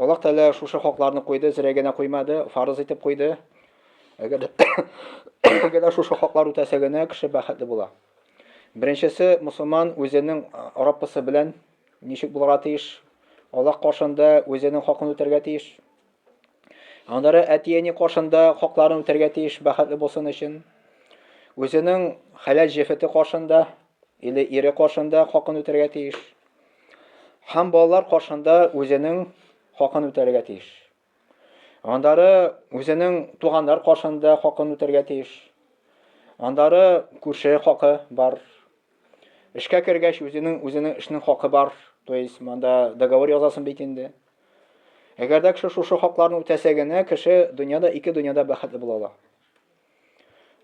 Аллаһ Тәгалә шушы хакларны куйды, зря генә куймады, фарыз итеп куйды. Әгәр әгәр шушы хаклар үтәсә генә кеше бәхетле була. Беренчесе, мусулман үзенең Раббысы белән ничек булырга тиеш? Аллаһ каршында үзенең хакын үтәргә тиеш. Аннары әти-әни каршында хакларын үтәргә тиеш, бәхетле булсын өчен. Үзенең хәләл җефете каршында или ире каршында хакын үтәргә тиеш. Һәм балалар каршында үзенең хакын үтәргә тиеш. Андары үзенең туганнар каршында хакын үтәргә тиеш. Андары күрше хакы бар. Эшкә кергәч үзенең үзенең эшнең хакы бар. То есть монда договор язасын бит инде. Әгәр дә кеше шушы хакларны үтәсә генә, кеше дөньяда ике дөньяда бәхетле була ала.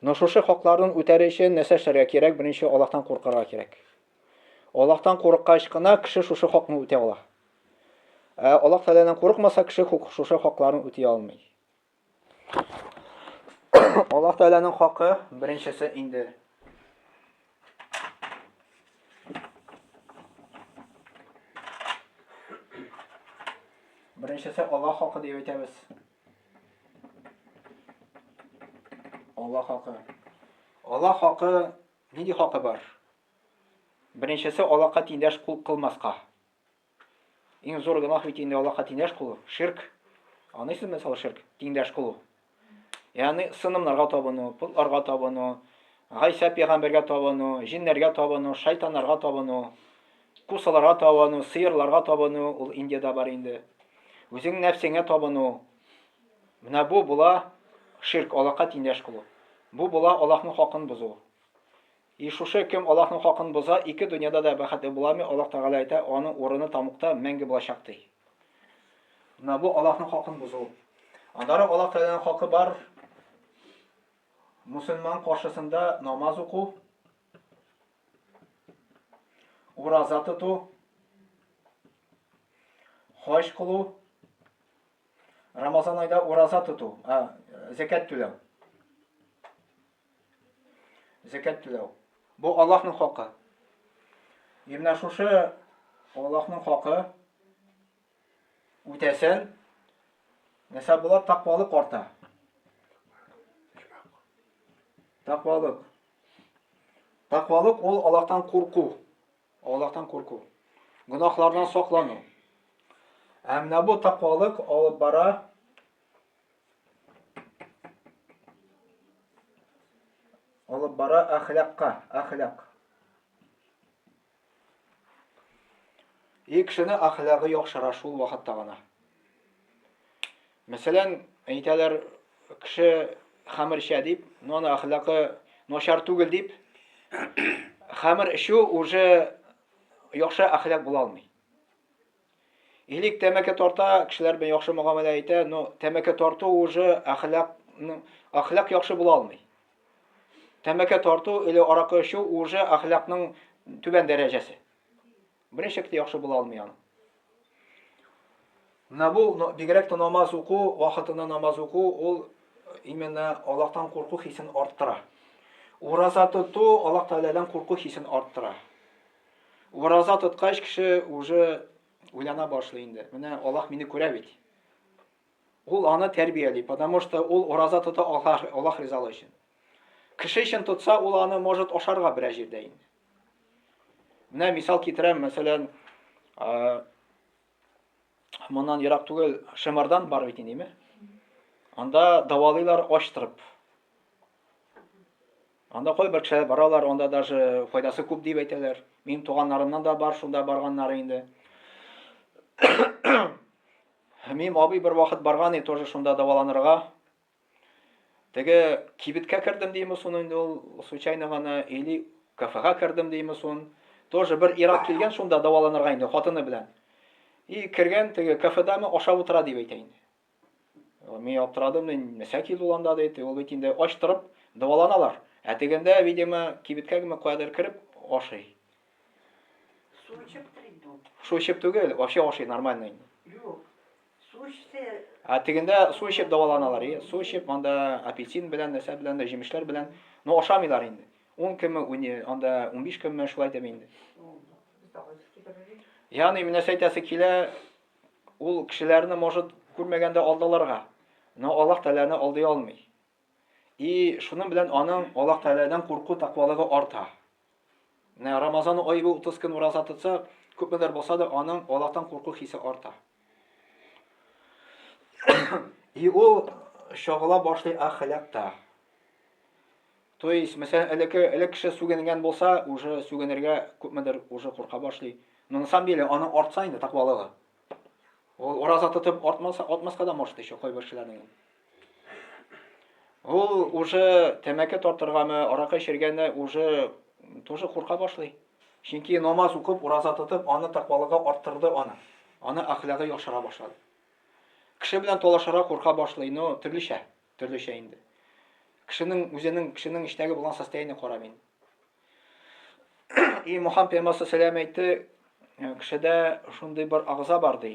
Но шушы хакларын үтәр өчен нәрсә эшләргә кирәк? Беренче Аллаһтан куркырга кирәк. Аллаһтан курыккач кына кеше шушы хакны үтә ала. Ә Аллаһ Тәгаләдән курыкмаса, кеше шушы хакларын үти алмый. Аллаһ Тәгаләнең хакы беренчесе инде Беренчесе Аллаһ хакы дип әйтәбез. Аллаһ хакы. Аллаһ хакы Нинди хакы бар? Беренчесе Аллаһка тиңдәш кул кылмаска. Иң зур гөнаһ бит инде Аллаһка тиңдәш кылу, ширк. Аныйсызмы мисал ширк, тиңдәш кылу? Ягъни сынымнарга табыну, путларга табыну, Гайса пәйгамбәргә табыну, җиннәргә табыну, шайтаннарга табыну, кусаларга табыну, сыерларга табыну, ул Индиядә бар инде. Үзең нәфсеңә табыну. Менә бу була ширк, Аллаһка тиңдәш кылу. Бу була Аллаһның хакын бозу. И шушы кем Аллаһның хакын боза, ике дөньяда да бәхетле буламый, Аллаһ Тәгалә әйтә, аның урыны тамукта мәңге булачак, ди. Менә бу Аллаһның хакын бозу. Аннары Аллаһ Тәгаләнең хакы бар, мусульман каршысында намаз уку, ураза тоту, хаҗ кылу, Рамазан айда ураза тоту, а, зәкәт түләү. Зәкәт түләү. Бу Аллаһның хакы. И менә шушы Аллаһның хакы үтәсен, нәрсә була, тақвалык арта. Тақвалык. Тақвалык ул Аллаһтан курку. Аллаһтан курку, гөнаһлардан саклану. Ә менә бу таквалык алып бара алып бара әхлакка, әхлак. И кешене әхлагы яхшыра шул вакытта гына. Мәсәлән, әйтәләр, кеше хәмер эчә дип, но аны әхлакы начар түгел дип, хәмер эчү уже яхшы әхлак була алмый. Элек тәмәке тарта, кешеләр белән яхшы мөгамәлә итә, но тәмәке тарту уже әхлак әхлак яхшы була алмый. Тәмәке тарту или аракы эчү уже әхлакның түбән дәрәҗәсе. Берничек тә яхшы була алмый аның. Менә бу бигрәк тә намаз уку, вакытында намаз уку, ул именно Аллаһтан курку хисен арттыра. Ураза тоту Аллаһ Тәгаләдән курку хисен арттыра. Ураза тоткач кеше уже уйлана башлый инде. Менә Аллаһ мине күрә бит. Ул аны тәрбияли, потому что ул ураза тота Аллаһ, Аллаһ ризалыгы өчен. Кеше өчен тотса, ул аны может ашарга берәр җирдә инде. Менә мисал китерәм, мәсәлән, моннан ерак түгел Шымардан бар бит инде, Анда давалыйлар аштырып. Анда кайбер кешеләр баралар, анда даже файдасы күп дип әйтәләр. Минем туганнарымнан да бар шунда барганнары инде. Минем абый бер вакыт барган иде тоже шунда даваланырга. Теге кибеткә кердем димы сон инде ул случайно гана или кафега кердем димы сон. Тоже бер ирак килгән шунда даваланырга инде хатыны белән. И кергән теге кафедамы ашап утыра дип әйтә инде. Мин аптырадым, нәрсә килде ул анда диде. Ул бит инде ач торып даваланалар. Ә тегендә, видимо, кибеткә генә кадәр кереп ашый. Су эчеп тел инде ул. Су эчеп түгел, вообще ашый нормально инде. Юк. Су эчте. Ә тегендә су эчеп дәваланалар, и су эчеп анда апельсин белән, нәрсә белән дә җимешләр белән. Ну ашамыйлар инде. 10 көнме, уни- анда 15 көнме шулай дип инде. Без дә кайсы китерергә. Ягъни менә нәрсә әйтәсе килә, ул кешеләрне может күрмәгәндә алдаларга. Но Аллаһ Тәгаләне алдый алмый. И шуның белән аның Аллаһ Тәгаләдән курку, тәкъвалыгы арта. Менә Рамазан ае бу 30 көн ураза тотса, күпмедер булса да аның Аллаһтан курку хисе арта. И ул чагыла башлый ахлакта. То есть, мәсәлән, элеке элек кеше сүгенгән булса, уже сүгенергә күпмедер уже курка башлый. Но на самом деле аны артса инде тәкъвалыгы. Ул ураза тотып артмаса, атмаска да может еще кайбер кешеләрнең. Ул уже тәмәке тартыргамы, аракы эчергәне уже тоже курка башлый. Чөнки намаз укып, ураза тотып, аны тәкъвалыгы арттырды аны. Аны әхлагы яхшыра башлады. Кеше белән талашара курка башлый, но төрлечә, төрлечә инде. Кешенең үзенең, кешенең иштәге булган состояние кара мин. И Мухаммад пәйгамбәр сәлам әйтте, кешедә шундый бер агза бар ди.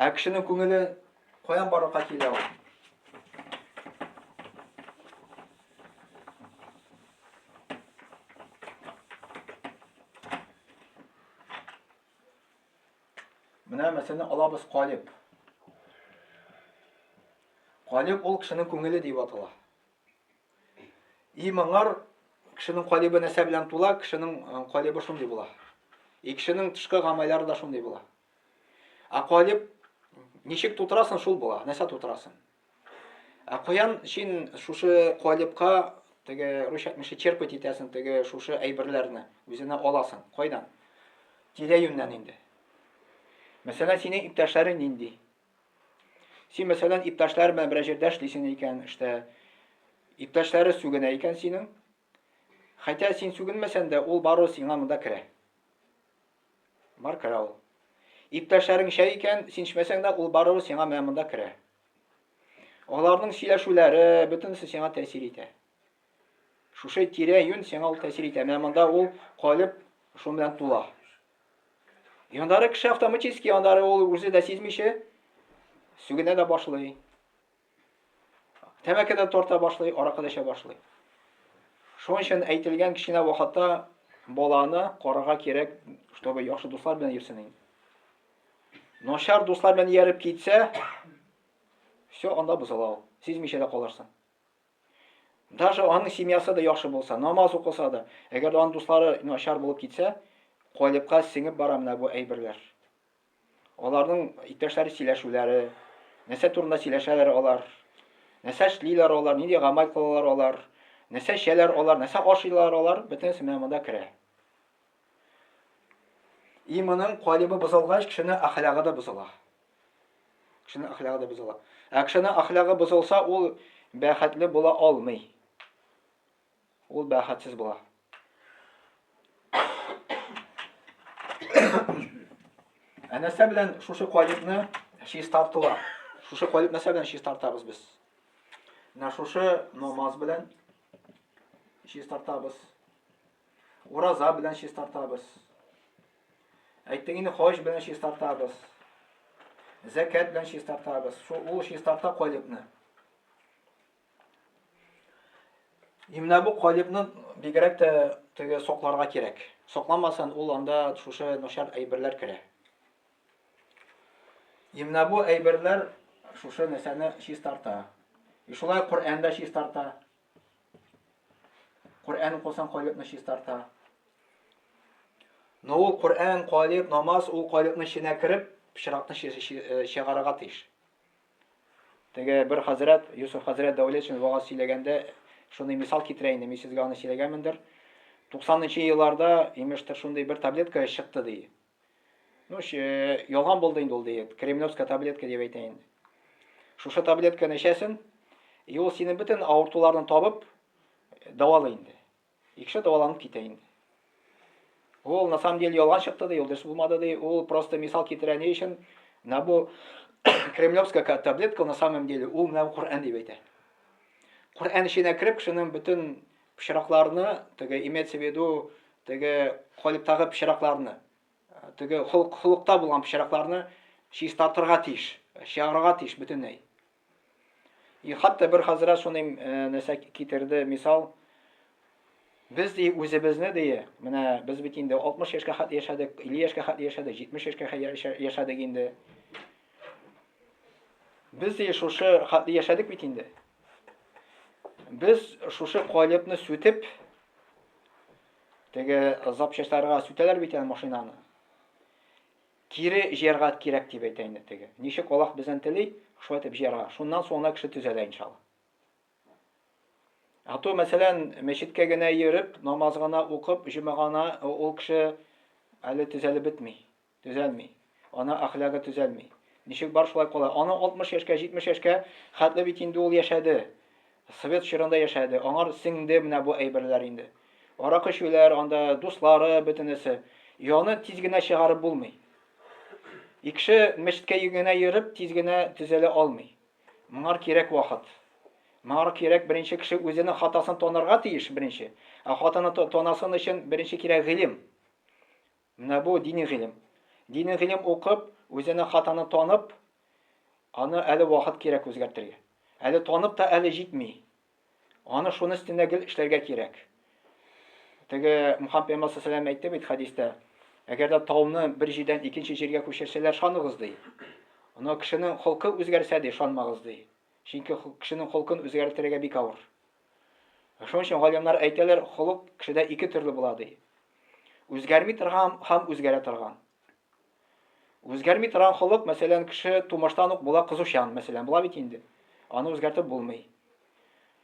Ә кешенең күңеле каян барлыкка килә ул? Менә мәсәлән алабыз калиб. Калиб ул кешенең күңеле дип атала. И моңар кешенең калибы нәрсә белән тула, кешенең калибы шундый була. И кешенең тышкы гамәлләре дә шундый була. Ә калиб ничек тутырасың, шул була, нәрсә тутырасың. Ә каян син шушы калибка теге русча әйтмешли черпать итәсең теге шушы әйберләрне, үзенә аласың. Кайдан? Тирә-юньнән инде. Мәсәлән, синең иптәшләрең нинди? Син, мәсәлән, иптәшләр белән берәр җирдә эшлисең икән, эштә иптәшләре сүгенә икән синең, Хәтя син сүгенмәсән дә, ул бару сиңа монда керә. Бар керә ул. Иптәшләрең чәй икән, син эчмәсәң дә, ул бару сиңа менә монда керә. Аларның сөйләшүләре бөтенесе сиңа тәэсир итә. Шушы тирә юн сиңа ул тәэсир итә. Менә монда ул калып шуның белән тула. Яндары кеше автоматически яндары ул үзе дә сизмичә сүгенә дә башлый. Тәмәке дә тарта башлый, аракы да эчә башлый. Шуның өчен әйтелгән кечкенә вакытта баланы карарга кирәк, чтобы яхшы дуслар белән йөрсен инде. Начар дуслар белән ияреп китсә, все анда бозыла ул. Сизмичә дә калырсың. Даже аның семьясы да яхшы булса, намаз укыса да, әгәр дә аның дуслары начар булып китсә, калыпка сеңеп бара менә бу әйберләр. Аларның иптәшләре сөйләшүләре, нәрсә турында сөйләшәләр алар, нәрсә эшлиләр алар, нинди гамәл кылалар алар, нәрсә эчәләр алар, нәрсә ашыйлар алар, бөтенесе менә монда керә. Иманның калибы бозылгач, кешенең әхлагы да бозыла. Кешенең әхлагы да бозыла. Ә кешенең әхлагы бозылса, ул бәхетле була алмый. ул бәхетсез була. Ә нәрсә белән шушы калипны чистартыла? Шушы калип нәрсә белән чистартабыз без? Менә шушы намаз белән чистартабыз. Ураза белән чистартабыз. Әйттең инде хаҗ белән чистартабыз. Зәкәт белән чистартабыз. Ул чистарта калипны. И менә бу калибны бигрәк тә теге сокларга кирәк. Сокламасын ул анда шушы начар әйберләр керә. И менә бу әйберләр шушы нәрсәне чистарта. И шулай Коръән дә чистарта. Коръән укысан калибны чистарта. Но ул Коръән, калиб, намаз ул калибны эченә кереп, пычракны чыгарырга тиеш. Теге бер хәзрәт, Йосыф хәзрәт Дәүлетшин вагаз сөйләгәндә шундый мисал китерә инде, мин сезгә аны сөйләгәнмендер. 90 нчы елларда, имештер, шундый бер таблетка чыкты ди. Ну, ялган булды инде ул ди, кремлевская таблетка дип әйтә инде. Шушы таблетканы эчәсен, и ул синең бөтен авыртуларны табып, дәвалый инде. Икшә дәваланып китә инде. Ул на самом деле ялган чыкты ди, ул дөрес булмады ди. Ул просто мисал китерә ни өчен? Менә бу кремлевская таблетка на самом деле ул менә Коръән дип әйтә. Коръән эченә кереп кешенең бөтен пычракларны, теге имеется в виду, теге калиптагы пычракларны, теге холык, холыкта булган пычракларны чистартырга тиеш, чыгарырга тиеш бөтенләй. И хәтта бер хәзрәт шундый нәрсә китерде, мисал, без ди үзебезне ди, менә без бит инде 60 яшькә хәтле яшәдек, 50 яшькә хәтле яшәдек, 70 яшькә хәтле яшәдек инде. Без ди шушы хәтле яшәдек бит инде. Без шушы калыпны сүтеп, теге запчастьларга сүтәләр бит аны машинаны. Кире җыярга кирәк дип әйтә инде теге. Ничек Аллаһ бездән тели, шулай итеп җыярга. Шуннан соң гына кеше төзәлә иншалла. А то, мәсәлән, мәчеткә генә йөреп, намаз гына укып, җөмә гына ул кеше әле төзәлеп бетми, төзәлми. Ана әхлагы төзәлми. Ничек бар шулай кала. Аны 60 яшькә, 70 яшькә хәтле бит инде ул яшәде. Совет чорында яшәде, аңар сеңде менә бу әйберләр инде. Аракы эчүләр, анда дуслары, бөтенесе. Яны тиз генә чыгарып булмый. Икше мәчеткә генә йөреп тиз генә төзәлә алмый. Моңар кирәк вакыт. Моңар кирәк беренче кеше үзенең хатасын танырга тиеш беренче. Ә хатаны танасын өчен беренче кирәк гыйлем. Менә бу дини гыйлем. Дини гыйлем укып, үзенең хатаны танып, аны әле вакыт кирәк үзгәртергә. Әле танып та әле җитми. Аны шуны өстендә гел эшләргә кирәк. Теге Мухаммед пәйгамбәр саллаллаху әйтте бит хәдистә, әгәр дә тауны бер җирдән икенче җиргә күчерсәләр, шаныгыз ди. Ана кешенең холкы үзгәрсә ди, шанмагыз ди. Чөнки кешенең холкын үзгәртергә бик авыр. Ә шуның өчен галимнәр әйтәләр, холык кешедә ике төрле була, ди. Үзгәрми торган һәм үзгәрә торган. Үзгәрми торган холык, мәсәлән, кеше тумыштан ук була кызучан, мәсәлән, була бит инде. Аны үзгәртеп булмый.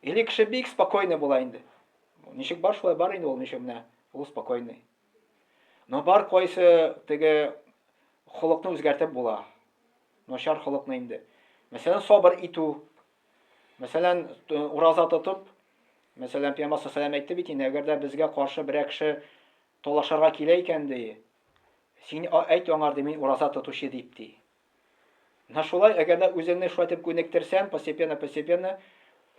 Или кеше бик спокойный була инде. Ничек бар шулай бар инде ул, ничек менә ул спокойный. Но бар кайсы теге холыкны үзгәртеп була. Начар холыкны инде. Мәсәлән, сабыр итү, Мәсәлән, ураза тотып, мәсәлән, Пәйгамбәр саллаллаһу әйтте бит инде, әгәр дә безгә каршы берәр кеше талашырга килә икән, ди, син әйт аңар, ди, мин ураза тотучы дип, ди. Менә шулай, әгәр дә үзеңне шулай итеп күнектерсәң, постепенно-постепенно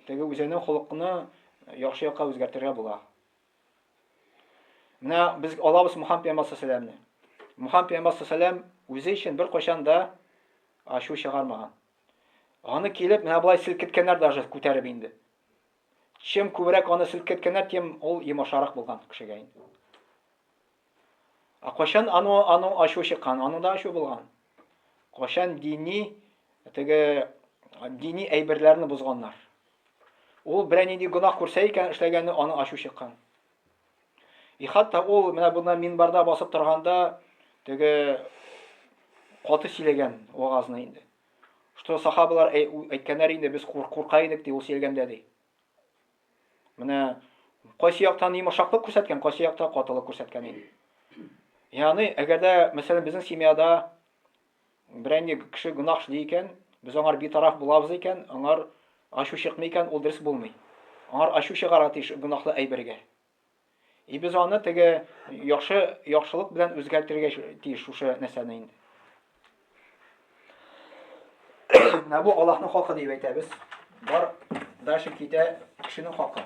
теге үзеңнең холыкны яхшы якка үзгәртергә була. Менә без алабыз Мухаммад пәйгамбәр саллаллаһу Мухаммад пәйгамбәр саллаллаһу үзе өчен беркайчан да ачу чыгармаган. Аны килеп, менә болай селкеткәннәр даже күтәреп инде. Чем күбрәк аны селкеткәннәр, тем ул йомашарак булган кешегә инде. Ә кайчан ану ану ачу чыккан, аның да ачу булган. Кайчан дини теге дини әйберләрне бозганнар. Ул берәр нинди гөнаһ күрсә икән, эшләгәне аны ачу чыккан. И хатта ул менә бунда минбарда басып торганда теге каты сөйләгән вагазны инде. Что сахабалар әйткәннәр инде без курка идек ди ул сөйләгәндә ди. Менә кайсы яктан йомшаклык күрсәткән, кайсы якта катылык күрсәткән инде. Яны әгәр дә мәсәлән безнең семьяда Берәни кеше гөнаһ эшли икән, без аңар битараф булабыз икән, аңар ачу чыкмый икән, ул дөрес булмый. Аңар ачу чыгарга тиеш гөнаһлы әйбергә. И без аны теге яхшы яхшылык белән үзгәртергә тиеш шушы нәрсәне инде. Менә бу Аллаһның хакы дип әйтәбез. Бар дальше китә кешенең хакы.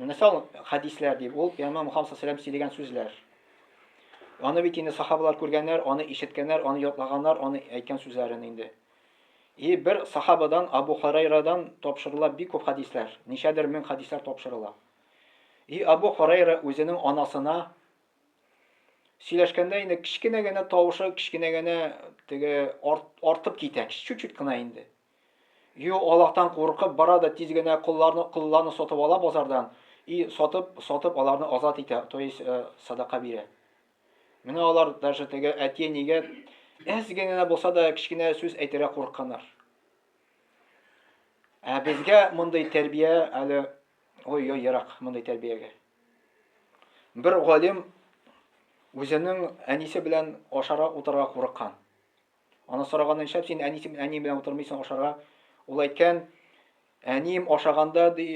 Менә сал хәдисләр дип ул пәйгамбәр Мухаммад саллаллаху сөйләгән сүзләр. Аны бит инде сахабалар күргәннәр, аны ишеткәннәр, аны ятлаганнар, аны әйткән сүзләрен инде. И бер сахабадан Абу Хурайрадан тапшырыла бик күп хәдисләр, ничәдер мең хәдисләр тапшырыла. И Абу Хурайра үзенең анасына сөйләшкәндә инде кечкенә генә тавышы, кечкенә генә теге арт, артып китә, чуть-чуть кына инде. Юк, Аллаһтан куркып бара да тиз генә колларны, колларны сатып ала базардан и сатып, сатып аларны азат итә, то есть э, садака бирә. Менә алар даже теге әтие нигә әз генә булса да кечкенә сүз әйтергә курыкканнар. Ә безгә мондый тәрбия әле ой ой ерак мондый тәрбиягә. Бер галим үзенең әнисе белән ашара утырга курыккан. Аны сораганда нишләп син әни син әни белән утырмыйсың ашарга? Ул әйткән, әнием ашаганда ди,